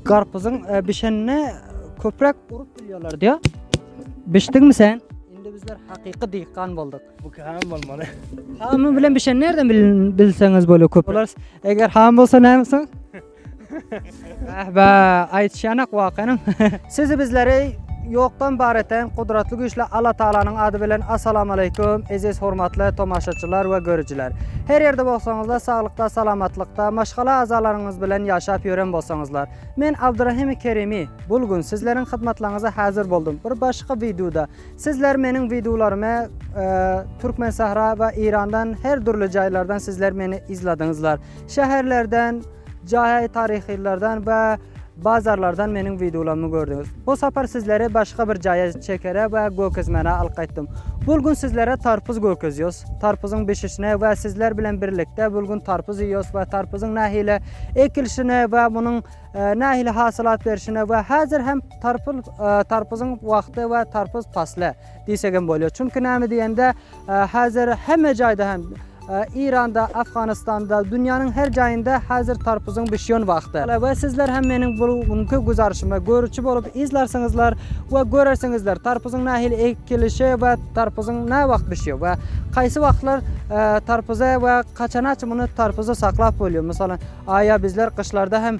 Garpyzyň bişenine köpräk urup bilýärler diýä. Bişdiňmi sen? Indi bizler hakyky diýkan bolduk. Bu käm bolmaly. Hamy bilen bişen nerden bilseňiz bolýar köp. Olar eger ham bolsa näme soň? Bäh bäh aýtýanak wakanyň. Sizi bizleri ýokdan bar eten Gudratly Güýçli Alla Tagalanyň ady bilen Assalamualeýkum eziz hormatly tomaşaçylar we görüjiler. Her ýerde bolsaňyzlar saglykda salamatlykda maşgala azalaryňyz bilen ýaşap ýören bolsaňyzlar. Men Abdurahimi Kerimi bul gün sizleriň hyzmatlaňyza hazir boldum bir başga widuda. Sizler meniň widularymy Türkmensahra we Irandan her dürli jaýlardan sizler meni izladyňyzlar. Şäherlerden, Jaý taryhylardan we bazarlardan meniň wideolarymy gördüňiz. Bu sapar sizleri başga bir jaýa çekere we gökezmäne alyp gaýtdym. Bul gün sizlere tarpuz gökezýos. Tarpuzyň bişişine we sizler bilen birlikde bul gün tarpuz iýos we tarpuzyň nähili ekilişine we munuň nähili hasylat berişine we häzir hem tarpul tarpuzyň wagty we tarpuz pasly diýsegem bolýar. Çünki näme diýende Häzir hemme jaýda hem Iranda, Afganistanda, dünýäniň her jaýynda häzir tarpuzyň bişýän wagty. We sizler hem meniň bu günki güzarşymy görüçi bolup yzlarsyňyzlar we görersiňizler tarpuzyň nähili ekilişi we tarpuzyň näwagt bişýär we kaýsy wagtlar tarpuzy we kaçanaç muny tarpuzy saklap bolýar. Mysalan, aýa bizler gyşlarda hem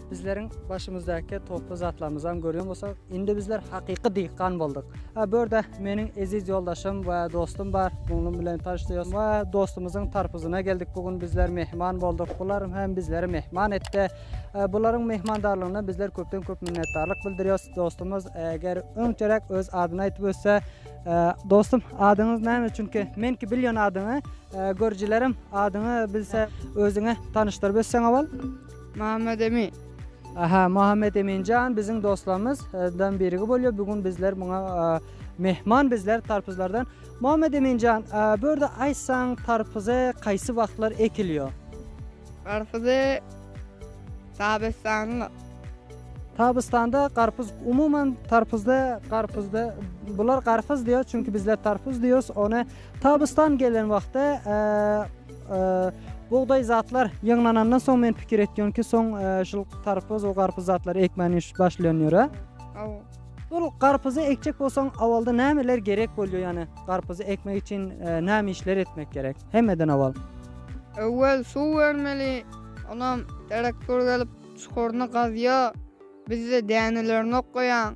Bizleriň başymyzdaky toply zatlarymyzam görýän bolsa, indi bizler hakyky diýkan bolduk. Ha bu ýerde meniň eziz ýoldaşym we dostum bar. Muňlum bilen tanyşdyk we dostumyzyň tarpyzyna geldik. Bu gün bizler mehman bolduk. Bular hem bizleri mehman etdi. Bularyň mehmandarlygyna bizler köpden köp minnetdarlyk bildirýäs. Dostumyz eger öňçeräk öz adyny aýdyp ötse, dostum adyňyz näme? Çünki men ki bilýän adyňy, görüjilerim adyňy bilse özüňi tanyşdyryp ötseň owal. Muhammed Emin. Aha Muhammed Eminjan biziň dostlarymyz dan birigi bolýar. Bu gün bizler muňa mehman bizler tarpyzlardan. Muhammed Eminjan, bu ýerde aýtsaň tarpyzy kaýsy wagtlar ekilýär? Garpyzy Tabystanda. Tabystanda garpyz umuman tarpyzda garpyzda bular garpyz diýýär çünki bizler tarpyz diýýäris. Ony Tabystan gelen wagtda Bugdaý zatlar ýygnanandan soň men pikir etýän ki, soň şul karpyz we garpyz zatlary ekmäni başlaýan ýöre. Hawa. Ol garpyzy ekjek bolsaň, awalda nämeler gerek bolýar? Ýani garpyzy ekmek üçin näme işler etmek gerek? Hemmeden awal. Öwel suw bermeli. Onam traktor gelip çukuryny gazýar. Bizde dänelerini okýar.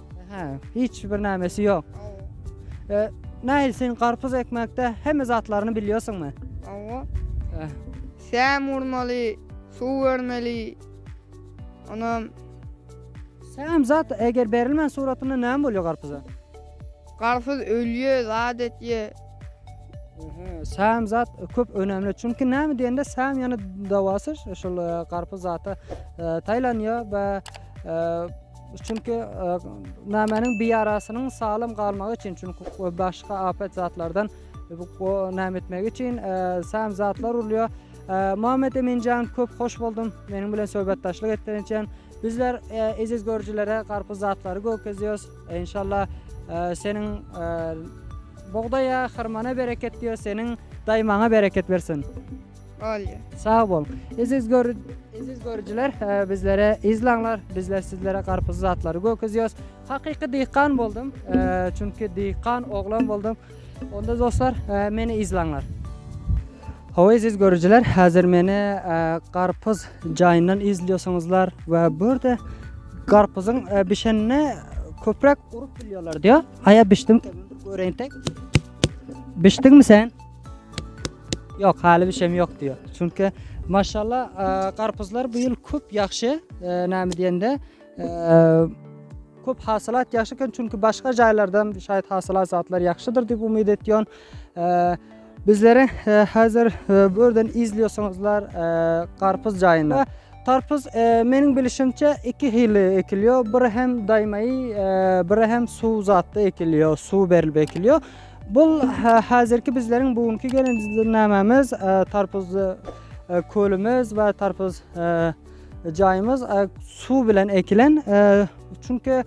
Hä, hiç bir nämesi ýok. Hawa. Nail sen garpyz ekmekde hemme zatlaryny bilýärsiňmi? Hawa. Hä. Säm urmaly, suw bermeli. Onam Säm zat eger berilmän suratynda näme bolýar garpyza? garpyz ölýe, zat etýe. Säm zat köp önemli. Çünki näme diýende säm ýene dawasy şol garpyz zata taýlanýar we Çünki nämäniň bir ýarasynyň saglam galmagy üçin, çünki başga apet zatlardan näme etmegi üçin sän zatlar urulýar. Muhammed Eminjan köp hoş boldum. Meniň bilen söhbetdaşlyk etdigiň üçin. Bizler eziz görüjilere garpyz zatlary gökezýäs. Inşallah seniň bugdaýa, hyrmana bereket diýýäs. Seniň daýmaňa bereket bersin. Olýa. Sag bol. Eziz gör Eziz görüjiler, bizlere izlaňlar. Bizler sizlere garpyz zatlary gökezýäs. Hakyky diýkan boldum. Çünki diýkan oglan boldum. Onda dostlar, meni izlaňlar. Hawa eziz görüjiler, häzir meni garpyz jaýyndan izliyorsunuzlar we burada garpyzyň bişenine köprak urup bilýärler diýýär. Haýa bişdim. Göreýin tek. Bişdiňmi sen? Ýok haly bişem ýok diýýär. Çünki maşallah garpyzlar bu ýyl köp ýagşy näme diýende köp hasylat ýagşy eken çünki başga jaýlardan şaýat hasylat zatlar ýagşydyr diýip umyt etýän. Bizleri häzir bu ýerden izliyorsaňyzlar garpyz jaýynda. Garpyz meniň bilişimçe iki hili ekilýär. Biri hem daýmaýy, biri hem suw zatda ekilýär, suw berilip ekilýär. Bul hazirki bizleriň bu günki gelen düzümnamamyz tarpuzly kölümüz we tarpuz jaýymyz suw bilen ekilen. Çünki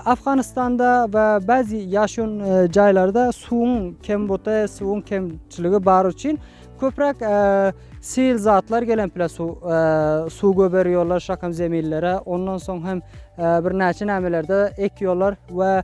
Afganistanda we bazı ýaşan jaýlarda suwuň kembuty, suwuň kemçiligi bar üçin köpräk sil zatlar gelen pile suw suw göberiyorlar şakam zeminlere. Ondan soň hem birnäçe nämelerde ekiyorlar we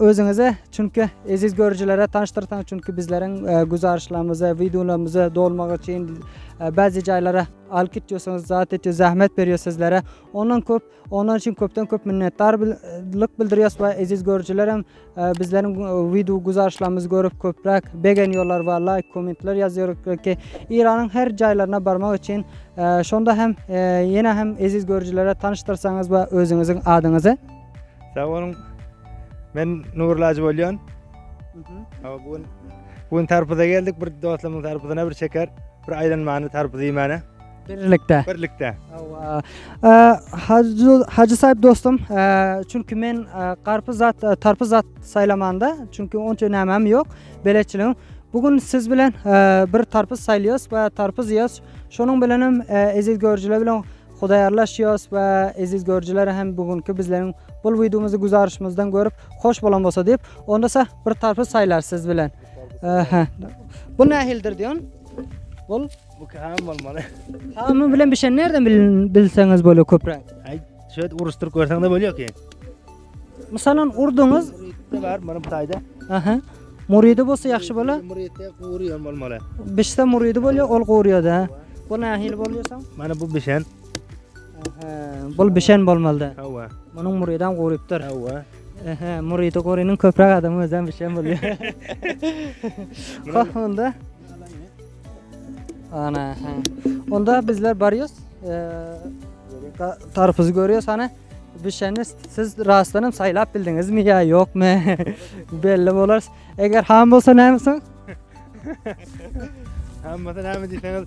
Özüňizi çünki eziz görüjilere tanyşdyrsaň çünki bizleriň güzarşlarymyzy videolarymyzy dolmagy üçin bazı jaýlara alyp gitýärsiňiz zat etýär zähmet berýär sizlere ondan köp ondan üçin köpden köp minnetdarlyk bildirýäs we eziz görüjiler hem bizleriň video güzarşlarymyzy görüp köpräk begenýärler we laýk kommentler ýazýarlar ki Iranyň her jaýlaryna barmak üçin şonda hem ýene hem eziz görüjilere tanyşdyrsaňyz we özüňiziň adyňyzy Sag boluň. Men Nur Lajy bolýan. Hawa, bu gün bu gün tarpuza geldik. Bir dostumyň tarpuzyna bir çeker, bir aýlanmany tarpuz iýmäne. Birlikde. Birlikde. Hawa. Ee, Hajy Hajy Saýyp dostum, ee, çünki men ee, garpyz zat, ee, tarpyz zat saýlamanda, çünki onça nämem ýok, beletçiligim. Bu gün siz bilen ee, bir tarpyz saýlaýas we tarpyz iýýäs. Şonuň bilen hem ee, eziz görüjiler bilen Hudaýarlaş Ýos we eziz görüjiler hem bu günki bizleriň bul wideomyzy güzaryşymyzdan görüp hoş bolan bolsa diýip onda sa bir tarpy saýlar siz bilen. Aha. Bu nähildir diýen? Bul Bu käm bolmaly. Hamy bilen bişen nereden bilseňiz bolýar köpräk. Aý, şöýt uruşdyryp görseň-de bolýar ki. Mysalan, urduňyz. Muride bar, muny bu taýda. Aha. Muride bolsa ýagşy bolar. Muride gurýan bolmaly. Bişse muride bolýar, ol gurýar-da. Bu nähili bolýar soň? Mana bu bişen. Aha. Bu bişen bolmaly-da. Hawa. Munuň muridan gurypdyr. Hawa. Aha, muride gurynyň köpräk adam özem bişen bolýar. Hah, onda. Ana, ha. Onda bizler barýas. Eee, tarpyzy görýäs, ana. Düşeni siz rastlanam saýlap bildiňizmi ýa ýokmy? Belli bolar. Eger ham bolsa näme soň? Ham bolsa näme diýseňiz?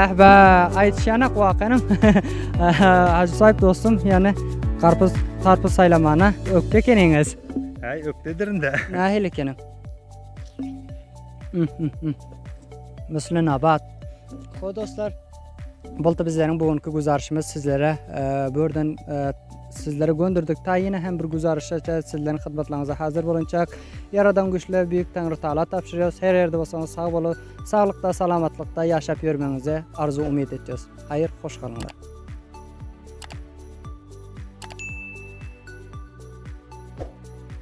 Ähbä, aýtýanak wakanam. Hajy saýyp dostum, ýany garpyz, tarpyz saýlamana ökde ekeniňiz. Äý, ökdedirinde. Nähili ekeni? Mysly nabat. Ho dostlar, boldy bizleriň bu günki güzarşymyz sizlere e, bu ýerden e, sizlere gönderdik. Ta ýene hem bir güzarşa sizleriň hyzmatlaryňyza hazır bolunçak. Ýaradan güýçler beýik Taňry Taala tabşyrýarys. Her ýerde bolsaňyz sag boluň. Saglykda, salamatlykda ýaşap ýörmegiňizi arzuw umyt etýäs. Haýyr, hoş galyňlar.